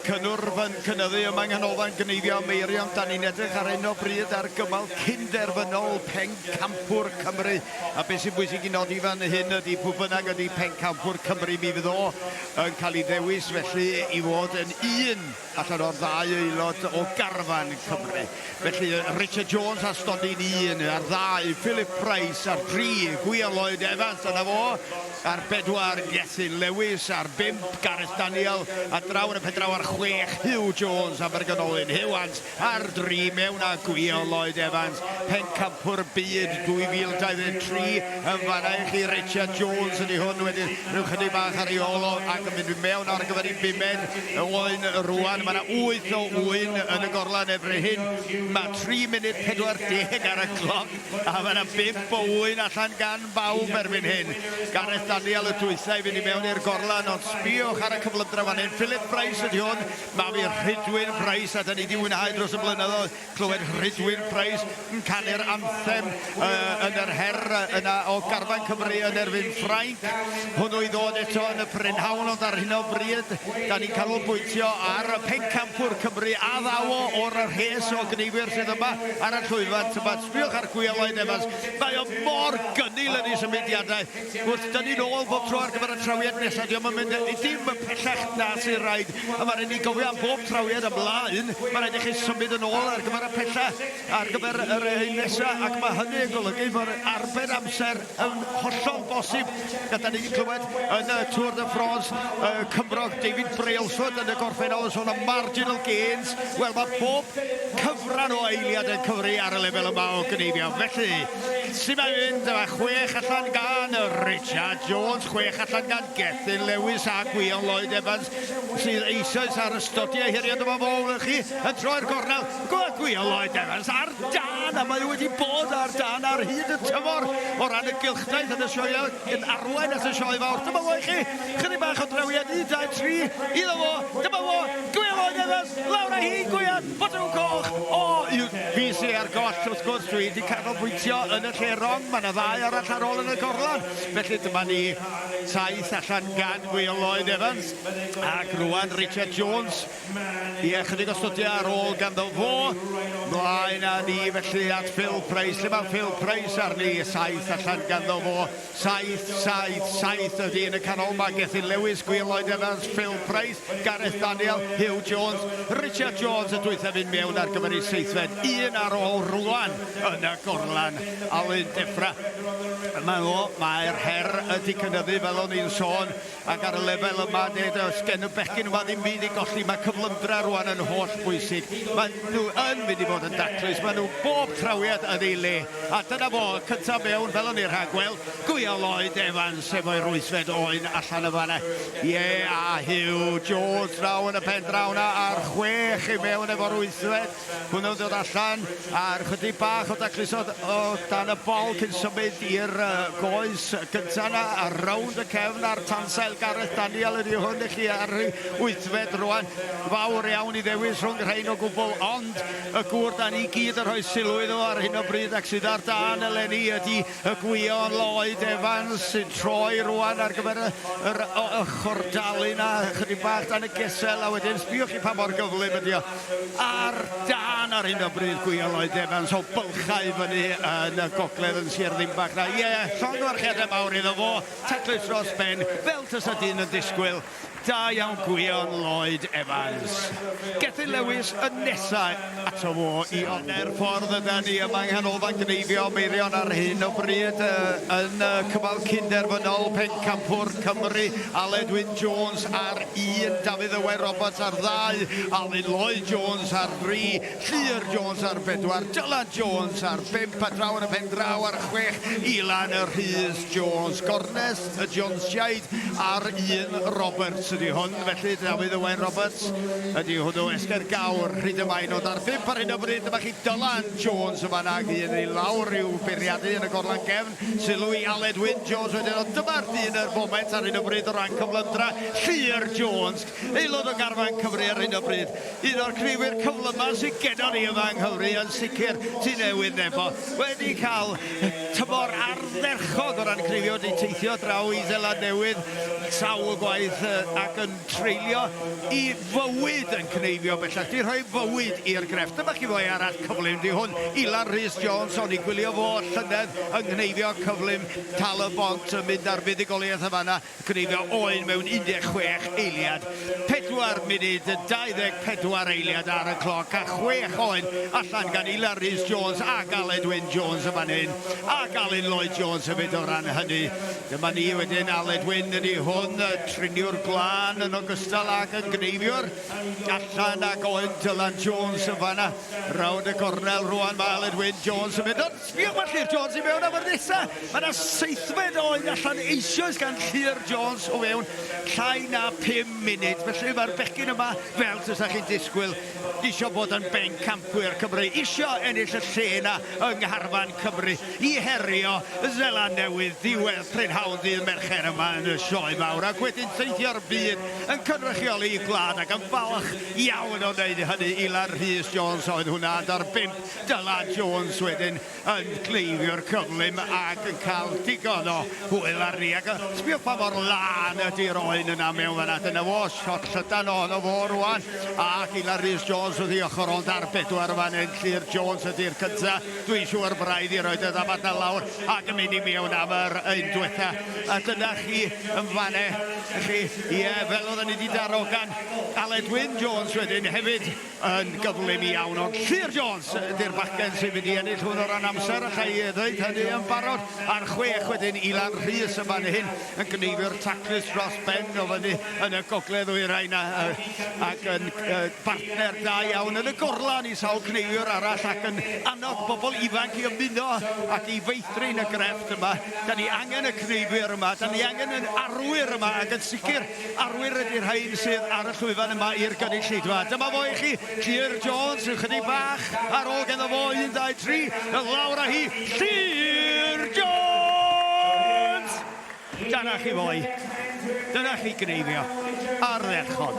Cynnwrf yn cynyddu ym Manghanolfan Gneifio Meirion. Da ni'n edrych ar hyn o bryd ar gymal cyn-derfynol Pencampwr Cymru. A beth sy'n bwysig i nodi fan hyn ydy pwy bynnag ydy Pencampwr Cymru mi fydd o yn cael ei ddewis felly i fod yn un allan o'r ddau aelod o garfan Cymru. Felly, Richard Jones ar stondin un, ar ddau, Philip Price, ar dri, Gwion Lloyd Evans, dyna fo, ar bedwar, Gethin Lewis, ar bump, Gareth Daniel, a draw yn y pendraw ar chwech, Huw Jones, Abergynolyn, Hewans, ar dri, mewn â Gwion Lloyd Evans, pencampwr byd 2023, Yn fanna i chi Richard Jones ydy hwn wedyn rhyw chydig bach ar ei ôl o ac yn mynd i mewn ar gyfer ei bumed o oen rwan. Mae yna 8 o wyn yn y gorlan erbyn hyn. Mae 3 munud 40 ar y cloc a mae yna 5 o wyn allan gan bawb erbyn hyn. Gareth Daniel y dwytha i fynd i mewn i'r gorlan ond sbiwch ar y cyflymdra fan hyn. Philip Price ydy hwn. Mae fi Rhydwyn Price a da ni di wynhau dros y blynyddoedd. Clywed Rhydwyn Price yn canu'r anthem yn yr her yna o garfan Cymru yn erbyn Ffrainc. Hwnnw i ddod eto yn y prynhawn ond ar hyn o bryd da ni'n canolbwyntio ar y pencampwr Cymru a ddaw o o'r rhes o gneifwyr sydd yma ar y llwyfan. Tybed, sbïwch ar Gwion Lloyd Evans, mae o mor gynnil yn ei symudiadau. Wrth dynnu nôl bob tro ar gyfer y trawiad nesaf, dio'm yn mynd dim yn pellach na sy'n rhaid. A ma' raid ni gofio am bob trawiad ymlaen, ma' raid i chi symud yn ôl ar gyfer y pella, ar gyfer yr un nesa, ac ma' hynny yn golygu fod arbed amser yn hollol bosib. A 'dan ni 'di clywed yn y Tour de France, y Cymrog David Brailsford yn y gorffennol yn sôn am marginal gains. Wel, ma' pob cyfran o eiliad yn cyfri ar y lefel yma o gneifio, felly, Sut mae'n mynd? Mae chwech allan gan Richard Jones, chwech allan gan Gethin Lewis a Gwion Lloyd Evans sydd eisoes ar ystodi ei heriau dyma fo wnewch chi yn troi'r gornel Gwion Lloyd Evans ar dan a mae wedi bod ar dan ar hyd y tymor o ran y gylchdaith yn y sioeau yn arwain at y sioe fawr dyma fo i chi chydig bach o drawiad 1, 2, 3 iddo fo dyma fo Gwion Lloyd Evans lawr â hi Gwion Botwm coch! O! Yw! Fues i ar goll, wrth gwrs, dwi 'di canolbwyntio yn y lle rong, mae 'na ddau arall ar ôl yn y gorlan, felly dyma ni taith allan gan Wil Lloyd Evans, ac rŵan Richard Jones, ie, chydig o stwdio ar ôl ganddo fo, mlaen a ni felly at Phil Price, lle mae Phil Price arni, saith allan ganddo fo. Saith, saith, saith ydy yn y canol, mae Gethin Lewis, Gwion Lloyd Evans, Phil Price, Gareth Daniel, Huw Jones, Richard Jones y dwythaf un mewn ar gyfer ei seithfed un ar ôl rwan yn y gorlan. Alun Defra, mae o, mae'r her ydy cynyddu fel o'n i'n sôn, Ac ar y lefel yma, neu does gen y bechgyn yma ddim byd i golli. Mae cyflymdra rwan yn holl bwysig. Mae nhw yn mynd i fod yn daclus. Mae nhw bob trawiad yn ei le. A dyna fo, y cyntaf mewn, fel o'n ni'n rhagweld. Gwial Lloyd Evans efo'i rwysfed oen allan y fanna. Ie, a Hugh Jones draw yn y pen draw na ar chwech i mewn efo'r rwysfed. Hwnnw ddod allan ar chydig bach o daclus o dan y bol cyn symud i'r goes gyntaf yna ar rownd y cefn a'r tansail Gareth Daniel ydy hwn i chi ar ei wythfed rwan. Fawr iawn i ddewis rhwng rhain o gwbl ond y gŵr da ni gyd yn rhoi sylw iddo ar hyn o bryd ac sydd ar dan eleni ydy Y gwion Lloyd Evans sy'n troi rwan ar gyfer yr ochr dalu 'na, chydig bach dan y gesel, a wedyn sbïwch chi pa mor gyflym ydi o. Ar dân ar hyn o bryd gwion Lloyd Evans o bylchau fyny yn y gogledd yn Sir Ddinbach 'na. Ie, llongyfarchiadau mawr iddo fo, taclus dros ben, fel tasa dyn yn disgwyl. Da iawn Gwion Lloyd Evans. Gethin Lewis yn nesa ato fo i one'r ffordd ydan ni yma yng Nghanolfan Gneifio Meirion ar hyn o bryd uh, yn uh, cyfal cynderfynol pencampwr Cymru Aled Wyn Jones ar un, Dafydd Owen Roberts ar ddau, Alun Lloyd Jones ar dri, Llyr Jones ar bedwar, Dylan Jones ar bimp a draw yn y pen draw ar chwech, Ilan Rhys Jones. Gornes y Jonesiaid a'r un Roberts ydy hwn, felly Dafydd Owain Roberts ydy hwnnw, Esger Gawr, Rhyd y Mae, nod ar bump ar hyn o bryd, dyma chi Dylan Jones yn fanna ag un i lawr i'w bwriadu yn y gorlan gefn, sylw i Aled Wyn Jones wedyn, ond dyma'r dyn yr foment ar hyn o bryd o ran cyflymdra, Llŷr Jones, aelod o garfan Cymru ar hyn o bryd. Un o'r criwyr cyflymaf sydd gennon ni yma yng Nghymru yn sicr, Tŷ Newydd Nebo, wedi cael tymor ardderchog o ran criwio, wedi teithio draw i Seland Newydd sawl gwaith ac yn treulio i fywyd yn cneifio bellach, 'di rhoi fywyd i'r grefft. Dyma chi foi arall cyflym, 'di hwn Ilan Rhys Jones, o'n i'n gwylio fo llynedd yng nghneifio cyflym Tal-y-bont yn mynd ar fuddugoliaeth yn fan'na. Gryfio oedd mewn 16 eiliad, 4 munud 24 eiliad ar y cloc a chwech oedd allan gan Ilar Rhys Jones ac Aled Wyn Jones yn fan hyn ac Alun Lloyd Jones hefyd o ran hynny. Dyma ni wedyn, Aled Wyn ydy hwn, triniwr glân yn ogystal ag yn gneifiwr. Allan ag oedd Dylan Jones yn fanna. Rownd y gornel rwan mae Aled Wyn Jones yn mynd. Sbïwch mae Llŷr Jones i mewn am yr nesa! Mae 'na seithfed o oen allan eisioes gan Llŷr Jones o fewn llai na phum munud. Felly mae'r bechgyn yma, fel tasa chi'n disgwyl, isio bod yn bencampwyr Cymru, isio ennill y lle 'na yng ngharfan Cymru i herio Seland Newydd ddiwedd prynhawn ddydd Mercher yma yn y Sioe Mawr ac wedyn teithio'r byd yn cynrychioli eu gwlad ac yn falch iawn o wneud hynny. Ilar Rhys Jones oedd hwnna, ond ar bump Dylan Jones wedyn yn cleifiwr cyflym ac yn cael digon o hwyl arni ac sbio pa mor lân ydy'r oen yna mewn fan 'na. Dyna fo, shot llydan ohono fo rwan ac Ilan Rhys Jones wrth ei ochr ond ar bedwar fan hyn, Llŷr Jones ydy'r cynta. Dwi'n siŵr braidd i roed y ddafad 'na lawr ac yn mynd i mewn am yr un dwetha. A dyna chi yn fan 'na chi, ie, fel oedden ni 'di darogan Aled Wyn Jones wedyn hefyd yn gyflym iawn, ond Llŷr Jones ydy'r bachgen sy'n mynd i ennill hwn o ran amser, alla i ddeud hynny yn barod, ar chwech wedyn Ilan Rhys yn fan hyn yn gneifio'r taclus dros ben o fyny yn y gogledd ddwyrain a, a, ac yn uh, bartner da iawn yn y gorlan i sawl cneifiwr arall ac yn annog bobl ifanc i ymuno ac i feithrin y grefft yma. Da ni angen y cneifiwr yma, da ni angen yn arwyr yma ac yn sicr Arwyr ydy rhain sydd ar y llwyfan yma i'r gynulleidfa. Dyma fo i chi, Llŷr Jones, rhyw chydig bach ar ôl gen fo, un, dau, tri, y lawr a hi, Llŷr Jones! Dyna chi fo i. Dyna chi gneifio. Ardderchog.